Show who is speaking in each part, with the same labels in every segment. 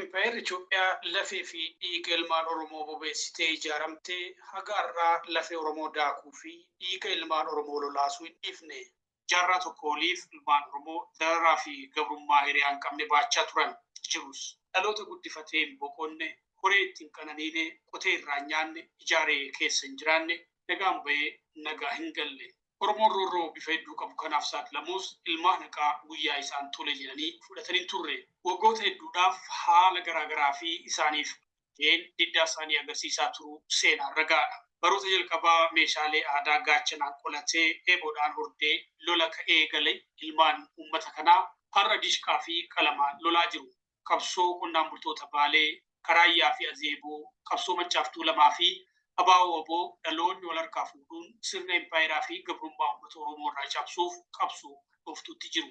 Speaker 1: Impaayerri Itoophiyaa lafee fi dhiiga ilmaan Oromoo bobeessitee ijaaramte haga har'aa lafee Oromoo daakuu fi dhiiga ilmaan Oromoo lolaasuu hin dhiifne. jaarraa tokkoo oliif ilmaan Oromoo dararaa fi gabrummaa hiriyaa hin qabne baachaa turan jirus, dhaloota guddifatee hin boqonne, horee itti hin qananiine, qotee irraa hin nyaanne, ijaaree keessa hin jiraanne, nagaan bahee nagaa hin galle. Oromoon roorroo bifa hedduu qabu kanaaf saaxilamuus ilmaan haqaa guyyaa isaan tole jedhanii fudhatan hin turre. Waggoota hedduudhaaf haala garaa garaa fi isaaniif ta'een diddaa isaanii agarsiisaa turuu seenaan ragaadha. Baroota jalqabaa meeshaalee aadaa gaachanaan qolatee, eeboodhaan hordee lola ka eegale ilmaan uummata kanaa har'a dishqaa fi qalamaan lolaa jiru. Qabsoo qonnaan bultoota Baalee, ka Raayyaa fi Azeeboo, qabsoo Maccaa fi Tuulamaa fi ABO-wbo dhaloonni wal harkaa fuudhuun sirna impaayeraa fi gabrummaa uummata Oromoo irraa cabsuuf qabsoo hadhooftuutti jiru.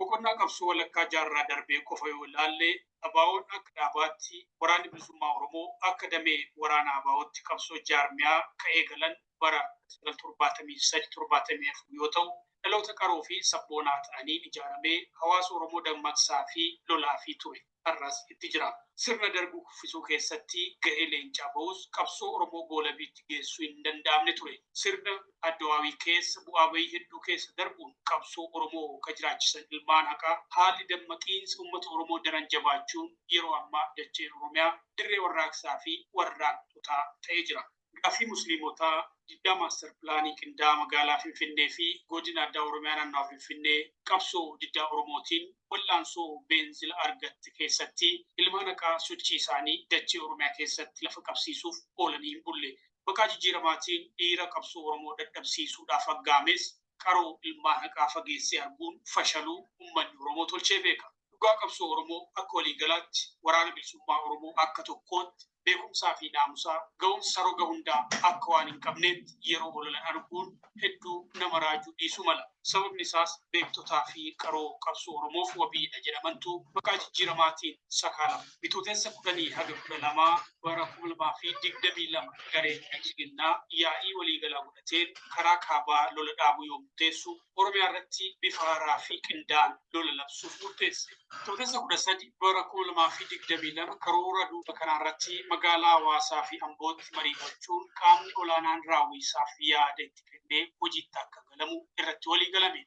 Speaker 1: Boqonnaa qabsoo walakkaa jaarraa darbee qofa yoo ilaalle, ABOn akka dhaabaatti, Waraanni Bilisummaa Oromoo akka damee waraana ABOtti qabsoo jaarmiyaa ka eegalan bara 1973, 74 yoo ta'u, dhaloota qaroo fi sabboonaa ta'aniin ijaaramee hawaasa Oromoo dammaqsaa fi lolaa fi ture. har'as itti jira. Sirna Dargii kuffisuu keessatti gahee leencaa bahus qabsoo Oromoo goolabiitti geessuu hin danda'amne ture. Sirna Adwaawii keessa bu'aa bahii hedduu keessa darbuun qabsoo Oromoo ka jiraachisan ilmaan haqaa, haalli dammaqiinsa ummata Oromoo daran jabaachuun yeroo ammaa dacheen Oromiyaa dirree warraaqsaa fi warraaqxotaa ta'ee jira. Gaaffii Musliimotaa, Diddaa Maastar Pilaanii Qindaa'aa Magaalaa Finfinnee fi Godina Addaa Oromiyaa Naannawa Finfinnee Qabsoo Diddaa Oromootiin Wal'aansoo Beenzila Argatte Keessatti Ilmaan Haqaa Sochii Isaanii Dachee Oromiyaa Keessatti Lafa Qabsiisuuf Oolanii Hin Bulle Maqaa Jijjiiramaatiin Dhiira Qabsoo Oromoo Dadhabsiisuudhaaf Aggaames qaroo ilmaan haqaa fageessee arguun fashaluu ummanni Oromoo tolchee beeka. Dhugaa qabsoo Oromoo akka waliigalaatti Waraana Bilisummaa Oromoo akka tokkootti beekumsaa fi naamusaa, ga'umsa roga hundaa akka waan hin qabneetti yeroo ololan arguun hedduu nama raajuu dhiisuu mala. Sababni isaas beektotaa fi qaroo qabsoo Oromoof wabii dha jedhamantu maqaa jijjiiramaatiin sakaalama. Bitootessa 10-12 bara 2022 gareen Bilxiginnaa yaa'ii waliigalaa godhate. fudhateen karaa kaabaa lola dhaabuu yoo murteessu, Oromiyaa irratti bifa haaraa fi qindaa'aan lola labsuuf murteesse. Bitootessa 13 bara 2022 karoora duula kanaa irratti magaalaa Hawaasaa fi Ambootti marii gochuun qaamni olaanaan raawwii isaaf yaada itti kennee hojiitti akka galamu irratti waliigalame.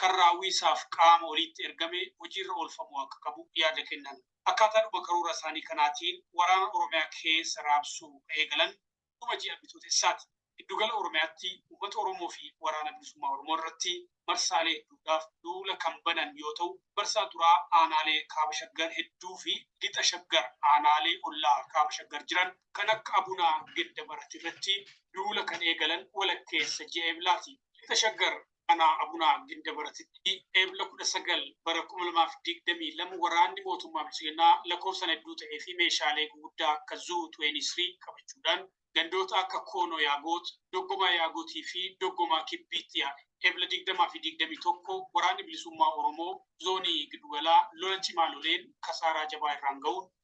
Speaker 1: kan raawwii isaaf qaama oliitti ergame hojiirra oolfamuu akka qabu yaada kennan. Akkaataadhuma karoora isaanii kanaatiin waraana Oromiyaa keessa raabsuu ka eegalan dhuma ji'a Bitootessaati. Giddugala Oromiyaatti uummata Oromoo fi Waraana Bilisummaa Oromoo irratti marsaalee hedduudhaaf duula kan banan yoo ta'u, marsaa duraa aanaalee Kaaba Shaggar hedduu fi Lixa Shaggar aanaalee ollaa Kaaba Shaggar jiran kan akka Abuna Gindabarat irratti duula kan eegalan walakkeessa ji'a Eblaati. Lixa Shaggar aanaa Abunaa Gindabaratitti Eebla 19 bara 2022 waraanni mootummaa Biltsiginnaa lakkoofsaan hedduu ta'ee fi meeshaalee guguddaa akka Zuu 23 qabachuudhaan gandoota akka Koonoo Yaagoot, Doggomaa Yaagotii fi Doggomaa Kibbiitti yaa'e. Eebla 20 fi 21 waraanni bilisummaa Oromoo zoonii Gidugalaa lola cimaa loleen kasaaraa jabaa irraan ga'uun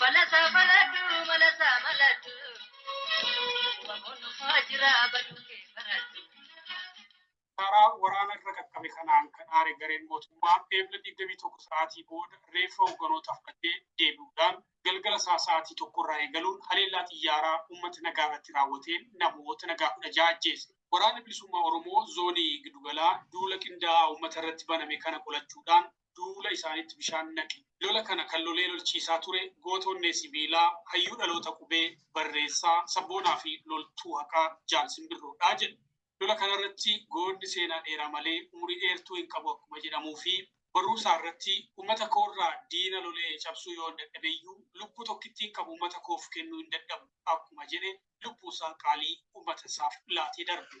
Speaker 1: Balasa baladu, balasa baladu. Wamoon dhufaa jira baduu kee baratu. Karaa waraana irra qaqqabe kanaan kan aare gareen mootummaa eebla 21 sa'aatii booda reeffa hoogganoota fudhatee deebi'uudhaan galgala isaa sa'aatii tokko irraa eegaluun haleellaa xiyyaaraa uummata nagaa irratti raawwateen namoota nagaa kudha ja'a ajjeese. Waraanni bilisummaa Oromoo zoonii gidugalaa duula qindaa'aa uummata irratti baname kana qolachuudhaan duula isaaniitti bishaan naqe. Lola kana kan lolee lolchiisaa ture goota onnee sibiilaa, hayyuu dhaloota qubee, barreessaa, sabboonaa fi loltuu haqaa Jaal Simbirroo dha jedhu. Lola kana irratti goonni seenaa dheeraa malee umurii dheertuu hin qabu akkuma jedhamuu fi barruu isaa irratti ummata koo irraa diina lolee cabsuu yoon dadhabe iyyuu lubbuu tokkittiin qabu ummata koof kennuu hin dadhabu akkuma jedhe lubbuu isaa qaalii ummata isaaf laatee darbe.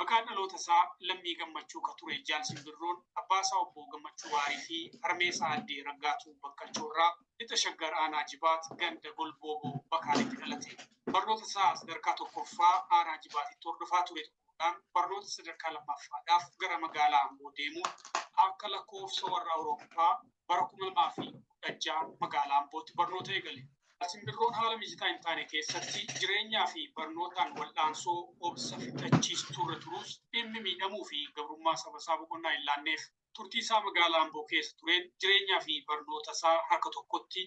Speaker 1: Maqaan dhaloota isaa Lammii Gammachuu ka ture Jaal Simbirroon abbaa isaa obbo Gammachuu Waarii fi harmee isaa addee Raggaatuu Bakkachoo irraa lixa Shaggar aanaa Jibaat ganda Golbooboo Bakaaleetti dhalate. Barnoota isaa sadarkaa tokkoffaa aanaa Jibaatitti hordofaa ture xumuruudhaan barnoota sadarkaa lammaffaadhaaf gara magaalaa Amboo deemuun akka lakkoofsa warra Awurooppaa bara 2016 magaalaa Ambootti barnoota eegale. Simbirroon haala mijataa hin taane keessatti jireenyaa fi barnootaan wal'aansoo obsa fixachiistuu irra turus dhimmi miidhamuu fi gabrummaa saba isaa boqonnaa hin laanneef. Turtii isaa magaalaa Amboo keessa tureen jireenyaa fi barnoota isaa harka tokkotti,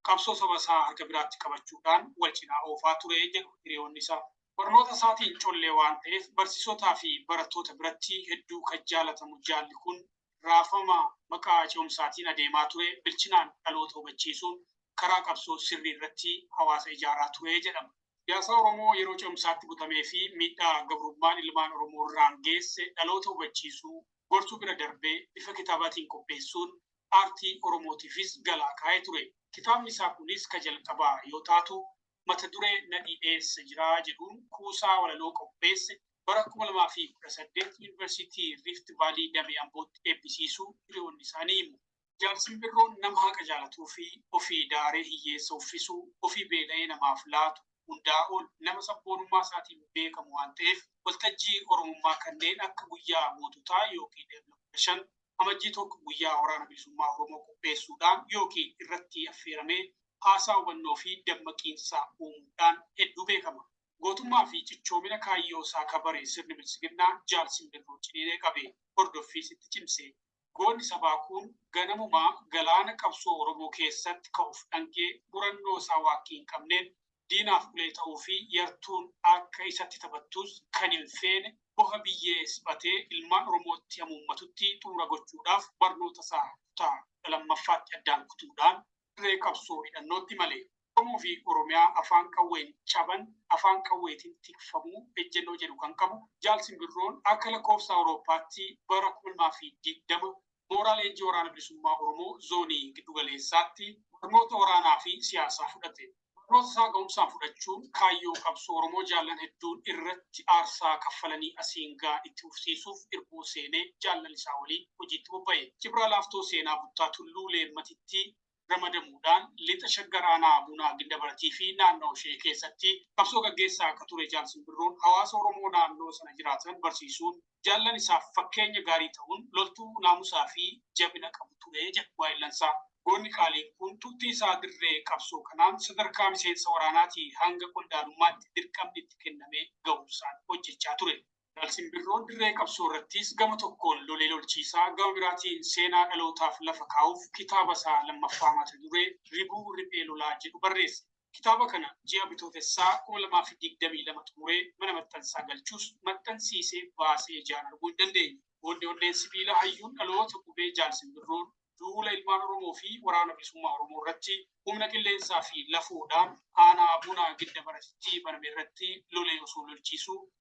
Speaker 1: qabsoo saba isaa harka biraatti qabachuudhaan wal cinaa oofaa ture jedhu hiriyoonni isaa. Barnoota isaatiin collee waan ta'eef barsiisotaa fi barattoota biratti hedduu kan jaalatamu jaalli kun raafama maqaa ce'umsaatiin adeemaa ture bilchinaan dhaloota hubachiisuun karaa qabsoo sirrii irratti hawaasa ijaaraa ture jedhama. Siyaasaa Oromoo yeroo ce'umsaatti butamee fi miidhaa gabrummaan ilmaan Oromoo irraan geesse dhaloota hubachiisuu, gorsuu bira darbee bifa kitaabaatiin qopheessuun aartii Oromootiifis galaa kaa'ee ture. Kitaabni isaa kunis ka jalqabaa yoo taatu, mata duree Nadhii Eessa Jira? jedhuun kuusaa walaloo qopheesse bara 2018 Yunivarsiitii Rift Vaalii Damee Ambootti eebbisiisuu hiriyoonni isaa ni himu. Jaal Simbirroon nama haqa jaalatuufi ofii daaree hiyyeessa uffisu, ofii beela'ee namaaf laatu, hundaa ol nama sabboonummaa isaatiin beekamu waan ta'eef, waltajjii Oromummaa kanneen akka Guyyaa Goototaa ykn Ebla 15, Amajjii 1 guyyaa Waraana Bilisummaa Oromoo qopheessuudhaan ykn irratti affeeramee haasaa hubannoo fi dammaqiinsa uumuudhaan hedduu beekama. Gootummaa fi cichoomina kaayyoo isaa ka bare sirni Biltsiginnaa Jaal Simbirroo ciniinee qabe, hordoffiis itti cimse. Goonni sabaa kun ganamumaa galaana qabsoo Oromoo keessatt ka of dhangee murannoo isaa waakkii hin qabneen diinaaf ulee ta'uu fi yartuun akka isatti taphattus kan hin feene boha biyyee sphatee ilmaan Oromootti hamuummatutti xumura gochuudhaaf barnoota isaa kutaa 12ffaatti addaan kutuudhaan dirree qabsoo hidhannootti male. Oromoo fi Oromiyaa afaan qawween caban afaan qawweetiin tikfamuu ejjennoo jedhu kan qabu Jaal Simbirroon akka lakkoofsa Awurooppaatti bara 2020 mooraa leenjii Waraana Bilisummaa Oromoo Zoonii Giddu Galeessaatti barnoota waraanaa fi siyaasaa fudhate. Barnoota isaa ga'umsaan fudhachuun kaayyoo qabsoo Oromoo jaallan hedduun irratti aarsaa kaffalanii asiin ga'an itti fufsiisuuf irbuu seenee jaallan isaa waliin hojiitti bobba'e. Jibraa Laaftoo Seenaa Buttaa Tulluu Leemmatittii ramadamuudhaan Lixa Shaggar Aanaa Bunaa Gindabaratii fi naannoo ishee keessatti qabsoo gaggeessaa akka ture Jaal Simbirroon hawaasa Oromoo naannoo sana jiraatan barsiisuun jaallan isaaf fakkeenya gaarii ta'uun loltuu naamusaa fi jabina qabu ture jedhu waayillansaa. Goonni qaaliin kun turtii isaa dirree qabsoo kanaan sadarkaa miseensa waraanaatii hanga qondaalummaatti dirqamni itti kennamee ga'umsaan hojjechaa ture. Simbirroo dirree qabsoo irrattis gama tokkoon lolee lolchiisaa gama biraatiin seenaa dhalootaaf lafa kaa'uuf kitaaba isaa lammaffaa mata duree Ribuu Riphee Lolaa jedhu barreesse. Kitaaba kana ji'a Bitootessaa 2022 xumuree mana maxxansaa galchus maxxansiisee baasee ijaan arguu hin dandeenye. Goonni onneen sibiila hayyuun dhaloota qubee Jaal Simbirroon duula ilmaan Oromoo fi Waraana Bilisummaa Oromoo irratti humna qilleensaa fi lafoodhaan aanaa Buna Gidda Baratitti baname irratti lolee osoo lolchiisuu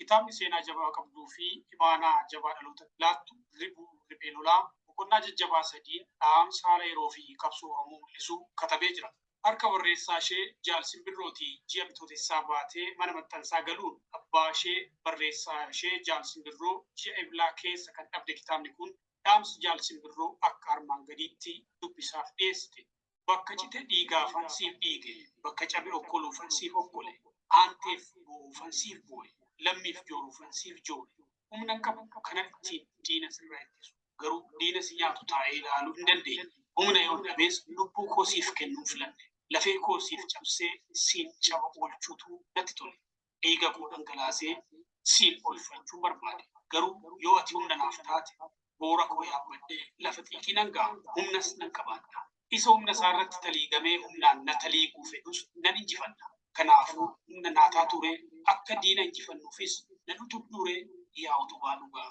Speaker 1: Kitaabni seenaa jabaa qabduu fi imaanaa jabaa dhalootatti laattu Ribuu Riphee Lolaa boqonnaa jajjabaa sadiin dhaamsa haala yeroo fi qabsoo Oromoo mul'isu katabee jira. Harka barreessaa ishee Jaal Simbirrootii ji'a Bitootessaa baatee mana maxxansaa galuun abbaa ishee barreessaa ishee Jaal Simbirroo ji'a Eblaa keessa kan dhabde kitaabni kun dhaamsa Jaal Simbirroo akka armaan gadiitti dubbisaaf dhiyeessite. Bakka cite dhiigaafan siif dhiige, bakka cabe okkoluufan siif okkole, aanteef boo'uufan siif boo'e, lammiif jooruufan siif joore. Humnan qabu kanan ittiin diina sirraa ittisu, garuu diina si nyaatu taa'ee ilaaluu hin dandeenye. Humna yoon dhabees lubbuu koo siif kennuun filadhe. Lafee koo siif cabsee siin caba oolchuutu natti tole. dhiiga koo dhangalaasee siif oolfachuun barbaade. Garuu yoo ati humna naaf taate boora koo yaabbadhee lafa xiiqii nan ga'a, humnas nan qabaadha. Isa humna isaa irratti taliigamee humnaan na taliiguu fedhus nan injifadha. Kanaafuu humna naa taatuuree akka diina injifannuufis nan utubduuree yaa utubaa dhugaa.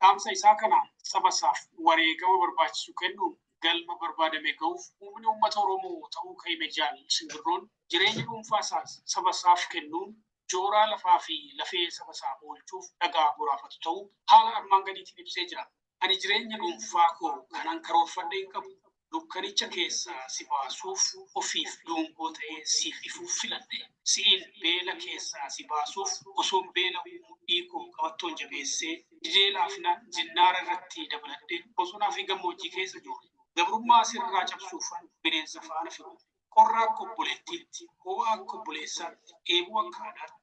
Speaker 1: dhaamsa isaa kanaan saba isaaf wareegama barbaachisu kennuun galma barbaadame ga'uuf humni uummata Oromoo ta'uu kan hime Jaal Simbirroon jireenya dhuunfaa isaas saba isaaf kennuun jooraa lafaa fi lafee saba isaa oolchuuf dhagaa boraafatu ta'uu haala armaan gadiitiin ibsee jira. Ani jireenya dhuunfaa koo kanan karoorfadhe hin qabu. Dukkanicha keessaa si baasuuf ofiif dungoo ta'ee siif ifuuf filadhe. Si'iin beela keessaa si baasuuf osoon beela'uu mudhii koo qabattoon jabeessee didee laafinaan zinnaara irratti dabaladhe bosonaa fi gammoojjii keessa joore. Gabrummaa sirraa cabsuufan bineensa faana firoome. Qorra akka obboleettiitti, hoo'a akka obboleessaatti, dheebuu akka haadhaatti,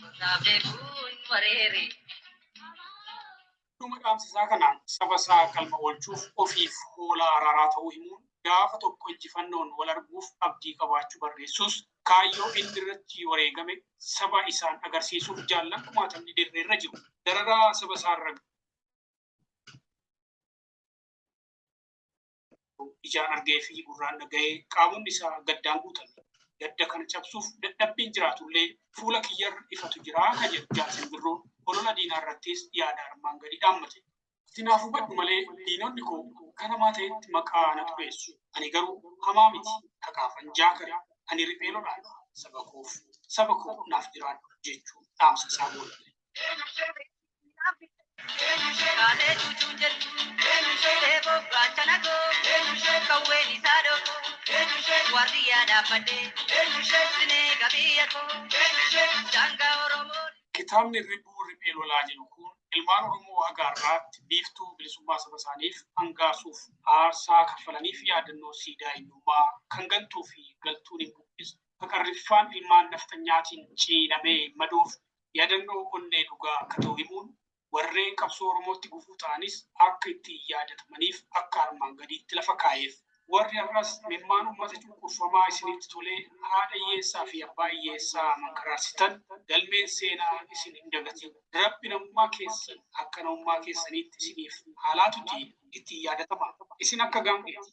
Speaker 2: Gosaa beekuun wareere.
Speaker 1: Dhuma dhaamsa isaa kanaan saba isaa galma oolchuuf ofiif hoolaa araaraa ta'uu himuun, gaafa tokko injifannoon wal arguuf abdii qabaachuu barreessuus, kaayyoo inni irratti wareegame saba isaan agarsiisuuf jaallan kumaatamni dirree irra jiru. Dararaa saba isaa irra. ijaan argee fi gurraan dhaga'ee qaamonni isaa gaddaan guutame. Gadda kana cabsuuf dadhabbiin jiraatullee fuula kiyyarra ifatu jira kan jedhu jaarsi birroo olola diinaa irrattis yaada armaan gadii dhaammate. Sinaaf hubadhu malee diinonni koo kan hamaa ta'etti maqaa na xureessu. Ani garuu hamaa miti kakaafan jaakare ani riphee lolaadha saba koof saba koo naaf jiraadhu jechuun dhaamsa isaa goolabee.
Speaker 2: Kaalee cuucuun jettu eeboo gaachana koo qawween isaa dhoofoo waardiyaa dhaabbadhee sinee qabiiyya koo daangaa Oromoo. Kitaabni Ribuu
Speaker 1: Riphee Lolaa jedhu kun ilmaan Oromoo haga har'aatti biiftuu bilisummaa saba isaaniif angaasuuf aarsaa kaffalaniif yaadannoo siidaa eenyummaa kan gantuu fi galtuun hin buqqisne, ka qarriffaan ilmaan nafxanyaatiin ciilamee madoof yaadannoo onnee dhugaa akka ta'u himuun, warreen qabsoo Oromootti gufuu ta'anis akka ittiin yaadatamaniif akka armaan gadiitti lafa kaa'eef. Warri har'as imimmaan uummata cunqurfamaa isinitti tolee haadha hiyyeessaa fi abbaa hiyyeessaa mankaraarsitan galmeen seenaa isin hin dagatin. Rabbi namummaa keessan akka namummaa keessaniitti isiniif haa laatutii ittiin yaadatamaa. Isin akka gaangeeti.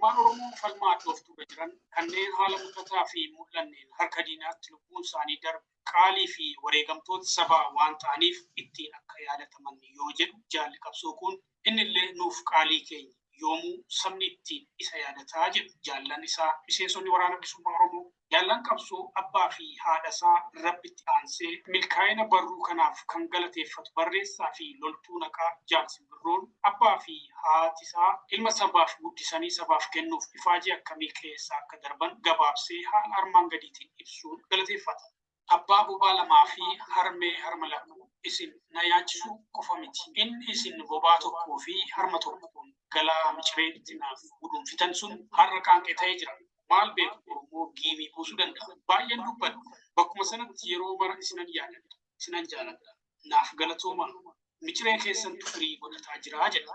Speaker 2: Ilmaan Oromoo
Speaker 1: falmaa hadhooftuurra jiran kanneen haala mul'ataa fi hin mul'anneen harka diinaatti lubbuun isaanii darbe qaalii fi wareegamtoota sabaa waan ta'aniif ittiin akka yaadataman yoo jedhu Jaalli Qabsoo kun, innillee nuuf qaalii keenya, yoomuu sabni ittiin isa yaadata jedhu jaallan isaa miseensonni Waraana Bilisummaa Oromoo. Jaallan qabsoo abbaa fi haadhasaa Rabbitti aansee milkaa'ina barruu kanaaf kan galateeffatu barreessaa fi loltuu naqaa Jaal Simbirroon abbaa fi haatisaa ilma sabaaf guddisanii sabaaf kennuuf ifaajee akkamii keessa akka darban gabaabsee haala armaan gadiitiin ibsuun galateeffata. Abbaa bobaa lamaa fi harmee harma lama isin na nyaachisuu qofa miti, inni isin bobaa tokkoo fi harma tokkoon galaa miciree itti naaf guduunfitan sun har'a qaanqee ta'ee jira. Maal beeku Oromoo giimii buusuu danda'a. Baay'een dubbadha. Bakkuma sanatti yeroo mara isinan yaadadha. Isinan jaaladha. Naaf galatoomaa. Miciree keessantu firii godhataa jira jedha.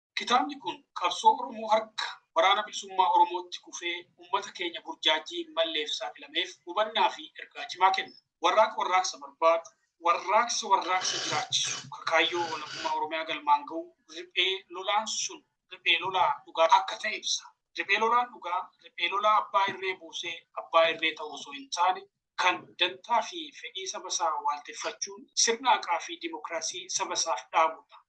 Speaker 1: Kitaabni kun qabsoo Oromoo harka Waraana Bilisummaa Oromootti kufee ummata keenya burjaajjii hin malleef saaxilameef hubannaa fi ergaa cimaa kenna. Warraaqa warraaqsa barbaadu, warraaqsa warraaqsa jiraachisu, ka kaayyoo walabummaa Oromiyaa galmaan gahu riphee lolaan sun riphee lolaa dhugaa akka ta'e ibsa. Riphee lolaan dhugaa riphee lolaa abbaa irree buusee abbaa irree ta'u osoo hin taane, kan dantaa fi fedhii saba isaa waalteffachuun sirna haqaa fi dimokiraasii saba isaaf dhaabu dha.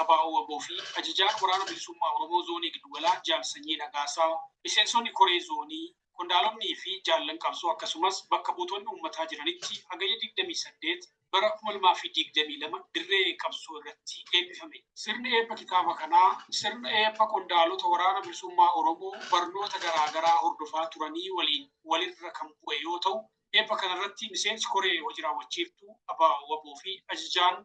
Speaker 1: Abaa'oo wbo fi Ajajaan Waraana Bilisummaa Oromoo Zoonii Giddugalaa Jaal Sanyii Nagaasaa, Miseensonni Koree Zoonii, Qondaalonnii fi Jaallan Qabsoo akkasumas bakka buutonni uummataa jiranitti Hagayya 28 bara 2022 dirree qabsoo irratti eebbifame. Sirni eebba kitaaba kanaa sirna eebba qondaalota Waraana Bilisummaa Oromoo barnoota garaa garaa hordofaa turanii waliin wal irra kan bu'e yoo ta'u, eebba kana irratti Miseensi Koree Hoji Raawwachiiftuu Abaa'oo wbo fi Ajajaan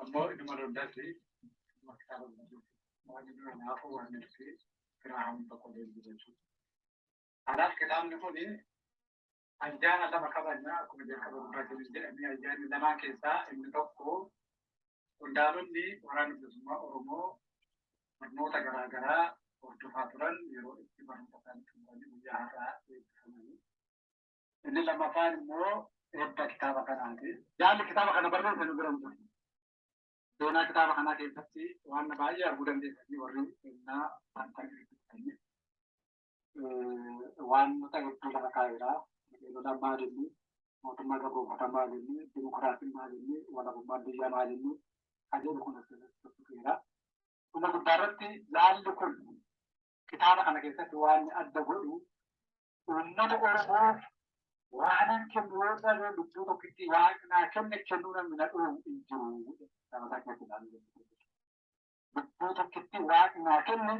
Speaker 3: Ammoo inuma dogdatti maktaa dogdatti waan inni kanaafuu waan nuti Giraaham tokko deemu jechuudha. Kanaaf kitaabni kun ayyaana lama kabajna akkuma jalqaba dubbachuu jedhamee ayyaanni lamaan keessaa inni tokko qondaalonni waraana bilisummaa Oromoo barnoota garaa garaa hordofaa turan yeroo itti barnoota isaanii xumuranii guyyaa har'aa eebbifamanii Inni lammaffaan immoo eebba kitaaba kanaati. Jaalli kitaaba kana barreesse nu bira hin jiru. Seenaa kitaaba kanaa keessatti waan baay'ee arguu dandeessanii warri seenaa wanta gaggeessanii waanota hedduu lafa kaa'eera. Biqiloota maal inni, mootummaa gagoofata maal inni, dimokiraasiin maal inni, walabummaan biyya maal inni, kanneen kun as keessatti tuttuqeera. Dhuma guddaa irratti jaalli kun kitaaba kana keessatti waan adda godhu uummata Oromoof waanan kennu yoo dhabee lubbuu tokkitti waan naa kenne kennuu namni na dhoobu hin jiru jedhe nama isaa keessatti ilaalu lubbuu tokkitti waan naa kenne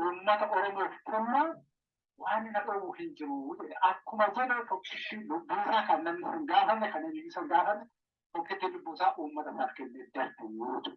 Speaker 3: uummata Oromoof kennu waan na dhoobu hin jiru jedhe akkuma jedhe tokkitti lubbuu isaa kan namni hin gaafanne kan inni hin gaafanne tokkitti lubbuu isaa uummata isaaf kennee darbe yoo ta'u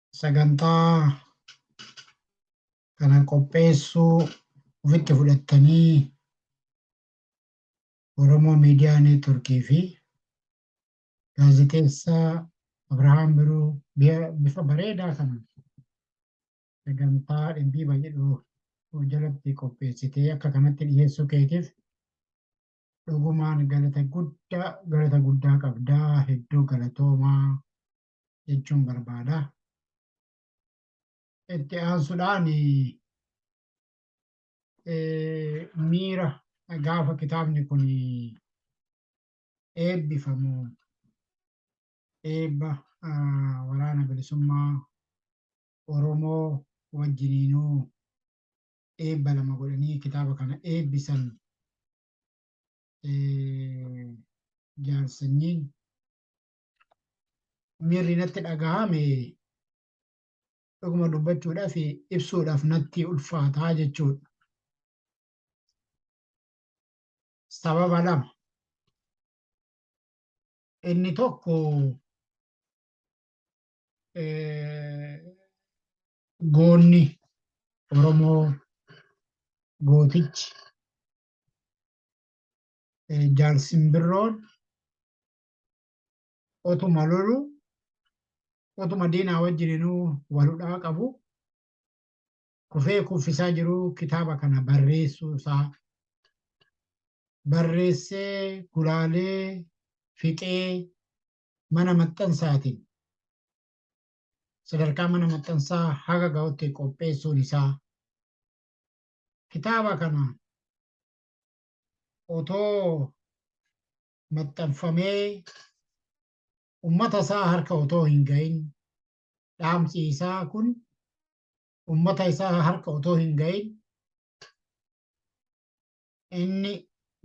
Speaker 4: sagantaa kana qopheessuu ofitti fudhattanii Oromoo Miidiyaa Neetworkii fi gaazexeessaa Abrahaam Biruu biya- bifa bareedaa kana sagantaa dhimbiiba jedhu jalatti qopheessitee akka kanatti dhiyeessuu keetiif dhugumaan galata guddaa galata guddaa qabdaa hedduu galatoomaa jechuun barbaada. Itti aansuudhaan miira gaafa kitaabni kun eebbifamu eebba waraana bilisummaa Oromoo wajjiniinuu eebba lama godhanii kitaaba kana eebbisan jaarsanyiin miirri natti dhaga'ame dhuguma dubbachuudhaaf ibsuudhaaf natti ulfaataa jechuudha. Sababa lama. Inni tokko goonni Oromoo gootichi jaalsimbirroon otuma lolu otuma diinaa wajjininuu waludhaa qabu kufee kuffisaa jiru kitaaba kana barreessuu isaa barreessee gulaalee fixee mana maxxansaatiin sadarkaa mana maxxansaa haga ga'utti qopheessuun isaa kitaaba kana otoo maxxanfamee ummata isaa harka otoo hin ga'in dhaamsi isaa kun ummata isaa harka otoo hin ga'in inni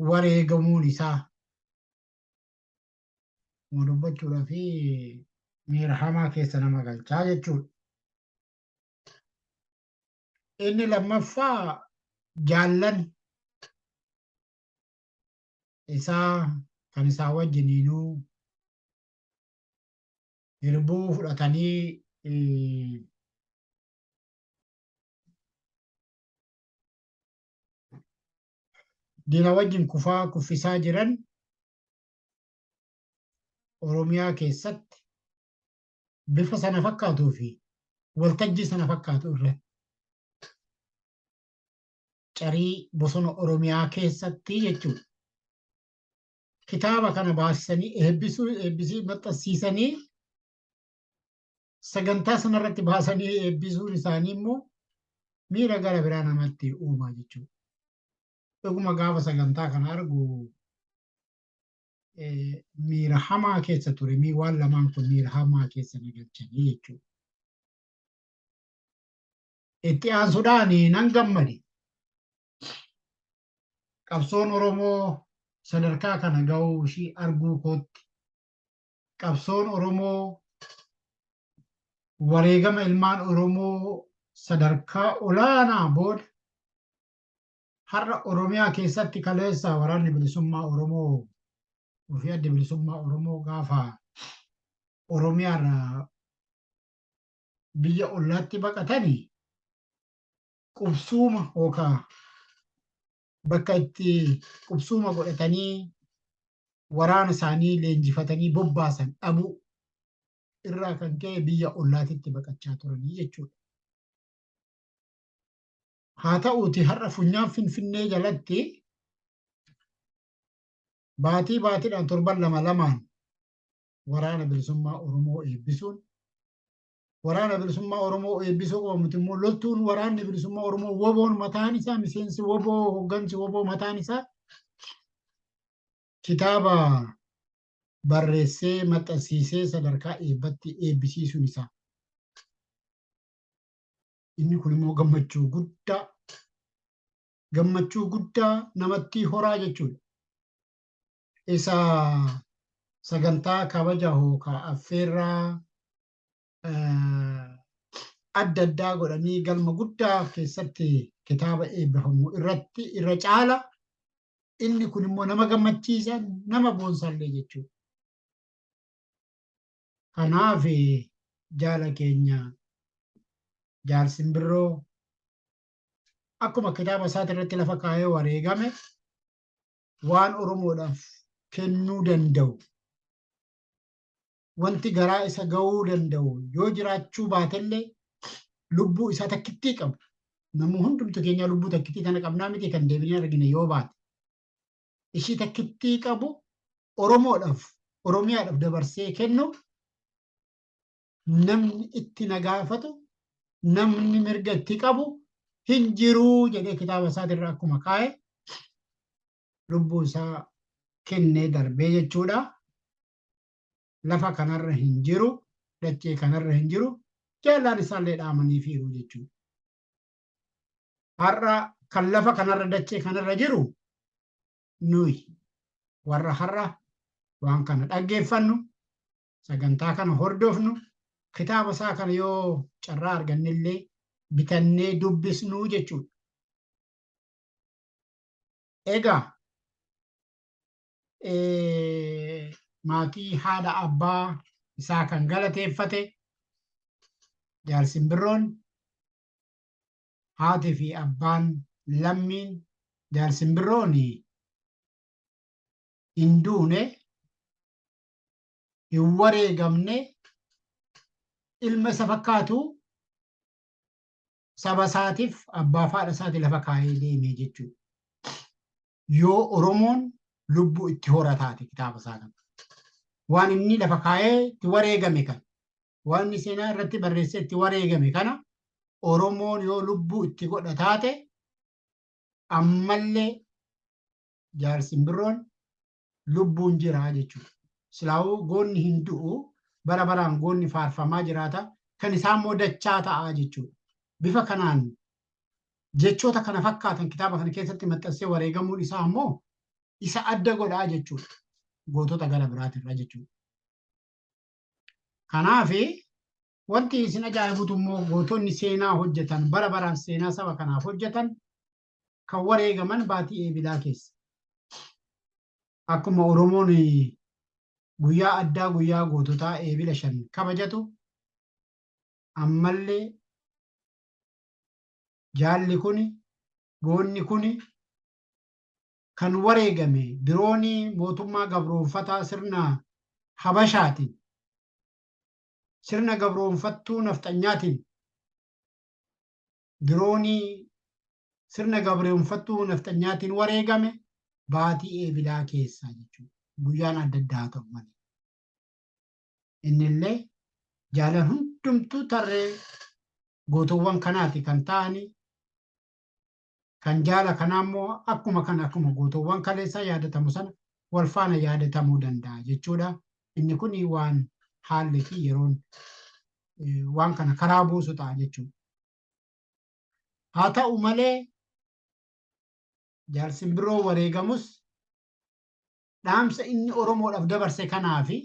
Speaker 4: wareegamuun isaa ma dubbachuudhaa fi miira hamaa keessa nama galchaa jechuudha. Inni lammaffaa jaallan isaa kan isaa wajjiniinuu hirbuu fudhatanii diina wajjin kufaa kuffisaa jiran Oromiyaa keessatti bifa sana fakkaatuu fi waltajjii sana fakkaatu irratti carii bosona Oromiyaa keessatti jechuudha. Kitaaba kana baasisanii eebbisuu eebbisii maxxansiisanii sagantaa sanarratti baasanii eebbisuun isaanii immoo miira gara biraa namatti uumaa jechuudha. Dhuguma gaafa sagantaa kana argu miira hamaa keessa ture mii waan lamaan kun miira hamaa keessa na galchanii jechuudha. Itti aansuudhaan nan gammade. Qabsoon Oromoo sadarkaa kana ga'uu ishii arguu kootti. Qabsoon Oromoo wareegama ilmaan Oromoo sadarkaa olaanaa booda har'a Oromiyaa keessatti kaleessa waraanni bilisummaa Oromoo fi adda bilisummaa Oromoo gaafa Oromiyaarraa biyya ollaatti baqatani qubsuuma yookaa bakka itti qubsuuma godhatanii waraana isaanii leenjifatanii bobbaasan dhabuu irraa kan ka'e biyya ollaatitti baqachaa turanii jechuudha. Haa ta'uuti har'a funyaan Finfinnee jalatti baatii baatiidhaan torban lama lamaan Waraana Bilisummaa Oromoo eebbisuun Waraana Bilisummaa Oromoo eebbisuu qofa miti immoo loltuun Waraanni Bilisummaa Oromoo woboon mataan isaa miseensi woboo hoggansi woboo mataan isaa kitaaba barreessee maxxansiisee sadarkaa eebbatti eebbisiisuun isaa. Inni kun immoo gammachuu guddaa gammachuu guddaa namatti horaa jechuudha. isa sagantaa kabaja hookaa affeerraa eh, adda addaa godhanii galma guddaa keessatti kitaaba eebbifamu irratti irra caala inni kun immoo nama gammachiisa nama boonsaallee jechuudha. Kanaaf eh, jaala keenya jaal simbirroo akkuma kitaaba isaati irratti lafa kaa'ee wareegame waan Oromoodhaaf kennuu danda'u, wanti garaa isa ga'uu danda'u yoo jiraachuu baatellee lubbuu isaa takkittii qabu. Namuu hundumtu keenyaa lubbuu takkittii tana qabnaa miti kan deebinee argine yoo baate. Ishii takkittii qabu Oromoodhaaf, Oromiyaadhaaf dabarsee kennu namni itti na gaafatu namni mirga itti qabu hin jiruu jedhee kitaaba isaatirra akkuma kaa'e lubbuu isaa kennee darbee jechuudha. Lafa kanarra hin jiru, dachee kanarra hin jiru, jaallaan isaallee dhaamanii fiiru jechuudha. Har'a kan lafa kanarra dachee kanarra jiru nuyi warra har'a waan kana dhaggeeffannu sagantaa kana hordofnu kitaaba isaa kana yoo carraa argannellee bitannee dubbisnuu jechuudha. Egaa maatii haadha abbaa isaa kan galateeffate jaal simbirroon haati fi abbaan lammiin jaal simbirroon hin duune hin wareegamne ilma isa fakkaatu saba isaatiif abbaa faadha isaati lafa kaa'ee deemee jechuudha. Yoo Oromoon lubbuu itti horataate kitaaba isaa kana. Waan inni lafa kaa'ee itti wareegame kana. Waan inni seenaa irratti barreessee itti wareegame kana Oromoon yoo lubbuu itti godha taate ammallee jaarsi birroon lubbuun jira jechuudha. Silaa'uu goonni hin du'u bara baraan goonni faarfamaa jiraata kan isaa immoo dachaa ta'a jechuudha. Bifa kanaan jechoota kana fakkaatan kitaaba kana keessatti maxxansee wareegamuun isaa immoo isa adda godhaa jechuudha. Gootota gara biraatirra jechuudha. Kanaaf wanti isin ajaa'ibutu immoo gootonni seenaa hojjetan bara baraan seenaa saba kanaaf hojjetan kan wareegaman baatii eebilaa keessa. Akkuma Oromoon guyyaa addaa guyyaa goototaa eebila shan kabajatu ammallee jaalli kuni goonni kuni kan wareegame diroonii mootummaa gabroonfataa sirna habashaatiin sirna gabroonfattuu nafxanyaatiin diroonii sirna gabreewunfattuu nafxanyaatiin wareegame baatii eebilaa keessaa jechuudha. Guyyaan adda addaa haa ta'u malee. Innillee jaalan hundumtuu tarree gootoowwan kanaati kan ta'anii kan jaala kanaa immoo akkuma kan akkuma gootoowwan kaleessaa yaadatamu sana wal faana yaadatamuu danda'a jechuudha. Inni kun waan haalli fi yeroon waan kana karaa buusu ta'a jechuudha. Haa ta'u malee jaal simbiroo wareegamus dhaamsa inni Oromoodhaaf dabarse kanaa fi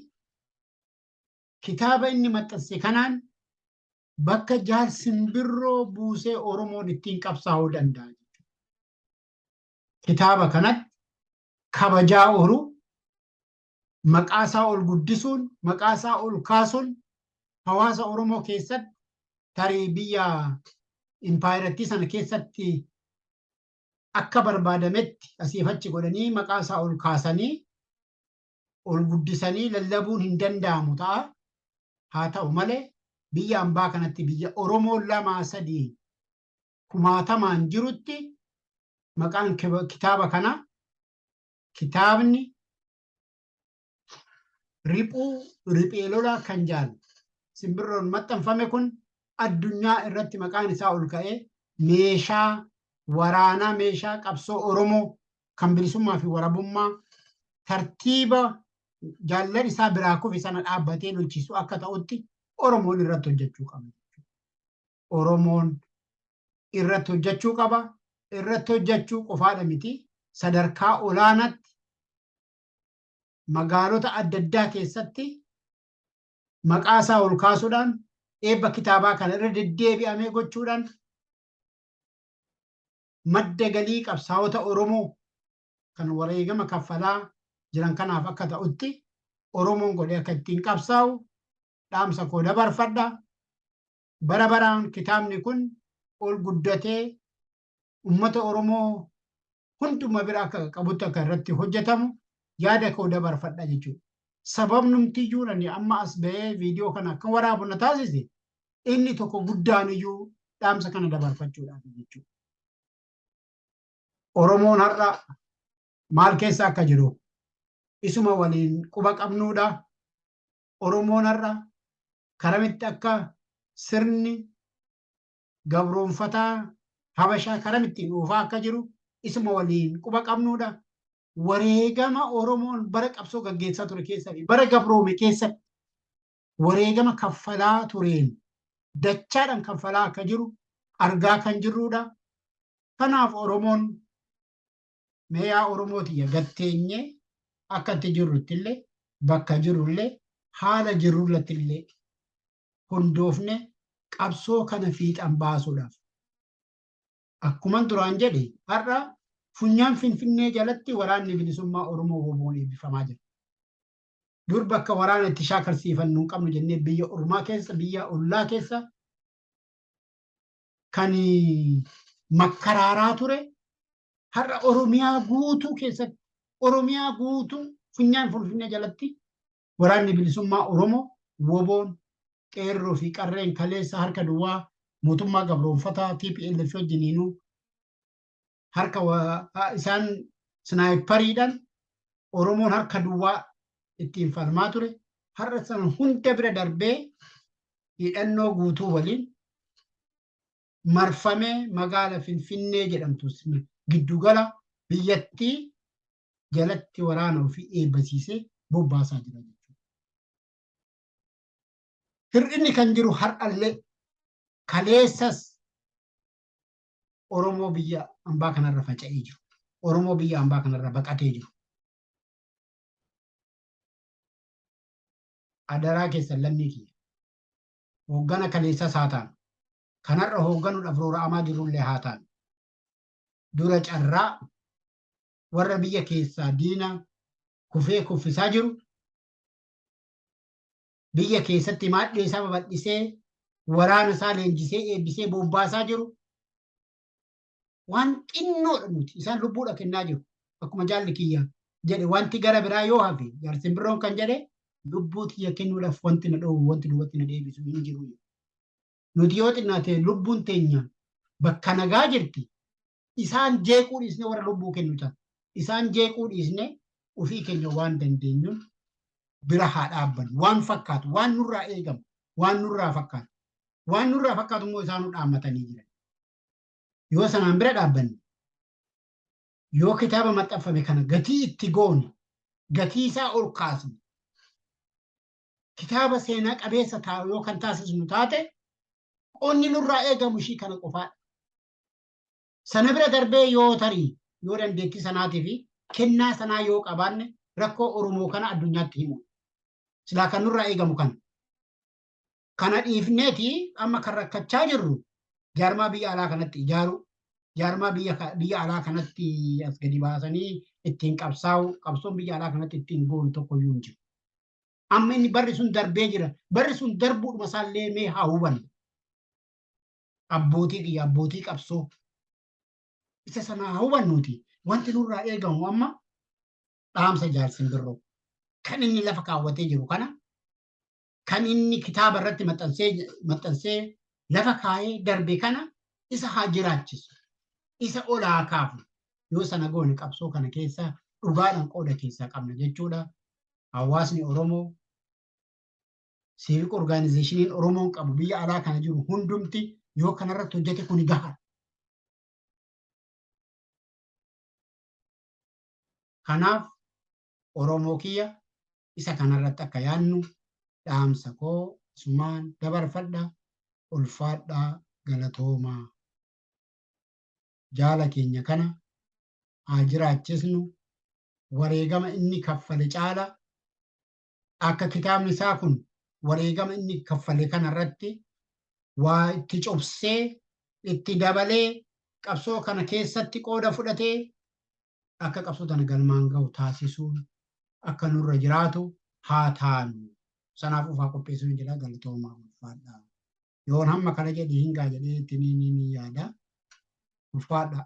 Speaker 4: kitaaba inni maxxanse kanaan bakka jaal simbiroo buusee Oromoon ittiin qabsaa'uu danda'a. Kitaaba kanatti kabajaa oolu, maqaa isaa ol guddisuun, maqaa isaa ol kaasuun hawaasa Oromoo keessatti tarii biyya impaayerattii sana keessatti akka barbaadametti asiif achi godhanii maqaa isaa ol kaasanii ol guddisanii lallabuun hin danda'amu ta'a. Haa ta'u malee biyya ambaa kanatti biyya Oromoo lamaa sadii kumaatamaan jirutti maqaan kitaaba kanaa kitaabni riphuu riphee lolaa kan jaal simbirroon maxxanfame kun addunyaa irratti maqaan isaa ol ka'ee meeshaa waraanaa meeshaa qabsoo Oromoo kan bilisummaa fi warabummaa tartiiba jaallan isaa biraa kufe sana dhaabbatee lolchiisu akka ta'utti Oromoon irratti hojjechuu qabna. Oromoon irratti hojjechuu qaba. Irratti hojjechuu qofaadha miti. Sadarkaa olaanaatti magaalota adda addaa keessatti maqaa isaa ol kaasuudhaan eebba kitaabaa kana irra deddeebi'amee gochuudhaan madda galii qabsaa'ota Oromoo kan wareegama kaffalaa jiran kanaaf akka ta'utti Oromoon godhee akka ittiin qabsaa'u dhaamsa koo dabarfadha. bara baraan kitaabni kun ol guddatee ummata Oromoo hunduma bira akka qaqqabutti akka irratti hojjetamu yaada koo dabarfadha jechuudha. Sababnumtiyyuu ani amma as ba'ee viidiyoo kana akka waraabu na taasise inni tokko guddaaniyyuu dhaamsa kana dabarfachuudhaaf jechuudha. Oromoon har'a maal keessa akka jiru isuma waliin quba qabnuudha. Oromoon har'a karamitti akka sirni gabroonfataa Habashaa karamittiin oofaa akka jiru isuma waliin quba qabnuudha. Wareegama Oromoon bara qabsoo gaggeessaa ture keessa fi bara gabroome keessatti wareegama kaffalaa tureen dachaadhaan kaffalaa akka jiru argaa kan jirruudha. Kanaaf Oromoon mee yaa Oromoo tiyya gad teenyee akka itti jirruttillee bakka jirrullee haala jirrullattillee hundoofne qabsoo kana fiixan baasuudhaaf akkuman duraan jedhe har'a funyaan finfinnee jalatti waraanni bilisummaa Oromoo woboon eebbifamaa jira. Dur bakka waraana itti shaakalsiifannu hin qabnu jennee biyya ormaa keessa biyya ollaa keessa kan makkaraaraa ture har'a Oromiyaa guutuu keessatti Oromiyaa guutuu funyaan Finfinnee jalatti waraanni bilisummaa Oromoo woboon qeerroo fi qarreen kaleessa harka duwwaa mootummaa gabroonfataa TPLF wajjiniinuu harka isaan snaayipariidhaan Oromoon harka duwwaa ittiin falmaa ture har'a sana hunda bira darbee hidhannoo guutuu waliin marfamee magaala Finfinnee jedhamtu giddugala biyyattii jalatti waraana ofii eebbasiisee bobbaasaa jira jechuudha. Hir'inni kan jiru har'allee kaleessas Oromoo biyya ambaa kanarra faca'ee jiru. Oromoo biyya ambaa kanarra baqatee jiru. Adaraa keessan lammii kiyya. hooggana kaleessas haa taanu, kan har'a hoogganuudhaaf roora'amaa jirrullee haa taanu, dura carraa warra biyya keessaa diina kufee kuffisaa jiru, biyya keessatti maadhee isaa babal'isee, waraana isaa leenjisee, eebbisee, bobbaasaa jiru, waan xinnoodha nuti isaan lubbuudha kennaa jiru akkuma jaalli kiyya jedhe wanti gara biraa yoo hafe jaarsin biroon kan jedhe lubbuu tiyya kennuudhaaf wanti na dhoowwu wanti duubatti na deebisu hin jiru nuti yoo xinnaate lubbuun teenya bakka nagaa jirti isaan jeequu dhiisne warra lubbuu kennu ta'a isaan jeequu dhiisne ofii keenya waan dandeenyuun bira haa dhaabbannu waan fakkaatu waan nurraa eegamu waan nurraa fakkaatu waan nurraa fakkaatu immoo isaanuu dhaammatanii jiran yoo sanaan bira dhaabbanne yoo kitaaba maxxanfame kana gatii itti goone gatii isaa ol kaasne kitaaba seenaa qabeessa taa'u yoo kan taasisnu taate qonni nurraa eegamu ishii kana qofaadha. Sana bira darbee yoo tarii yoo dandeettii sanaatii fi kennaa sanaa yoo qabaanne rakkoo Oromoo kana addunyaatti himu. Silaa kan nurraa eegamu kana. Kana dhiifneeti amma kan rakkachaa jirru jaarmaa biyya alaa kanatti ijaaruu, jaarmaa biyya alaa kanatti as gadi baasanii ittiin qabsaa'u, qabsoon biyya alaa kanatti ittiin goonu tokko iyyuu hin jiru. Amma inni barri sun darbee jira. Barri sun darbuudhuma isaallee mee haa hubannu. Abbootii kiyya abbootii qabsoo isa sana haa hubannuuti. Wanti nurraa eegamu amma dhaamsa jaarsin birroo kan inni lafa kaawwatee jiru kana kan inni kitaaba irratti maxxansee lafa kaa'ee darbe kana isa haa jiraachisu isa ol haa kaafu yoo sana goone qabsoo kana keessaa dhugaadhaan qooda keessaa qabna jechuudha. Hawaasni Oromoo siivik orgaanizeeshiniin Oromoon qabu biyya alaa kana jiru hundumti yoo kanarratti hojjete kuni gaha. Kanaaf Oromoo kiyya isa kanarratti akka yaadnu dhaamsa koo asumaan dabarfadha. Ulfaadhaa galatoomaa. Jaala keenya kana haa jiraachisnu. Wareegama inni kaffale caala akka kitaabni isaa kun wareegama inni kaffale kanarratti waa itti cobsee itti dabalee qabsoo kana keessatti qooda fudhatee akka qabsoo tana galmaan gahu taasisuun akka nurra jiraatu haa taanu. Sanaaf ufaa qopheessuu hin jedha galatoomaa ulfaadha. Yoon hamma kana jedhi hin gaa jedhee itti ni ni ni yaada. Ulfaadha.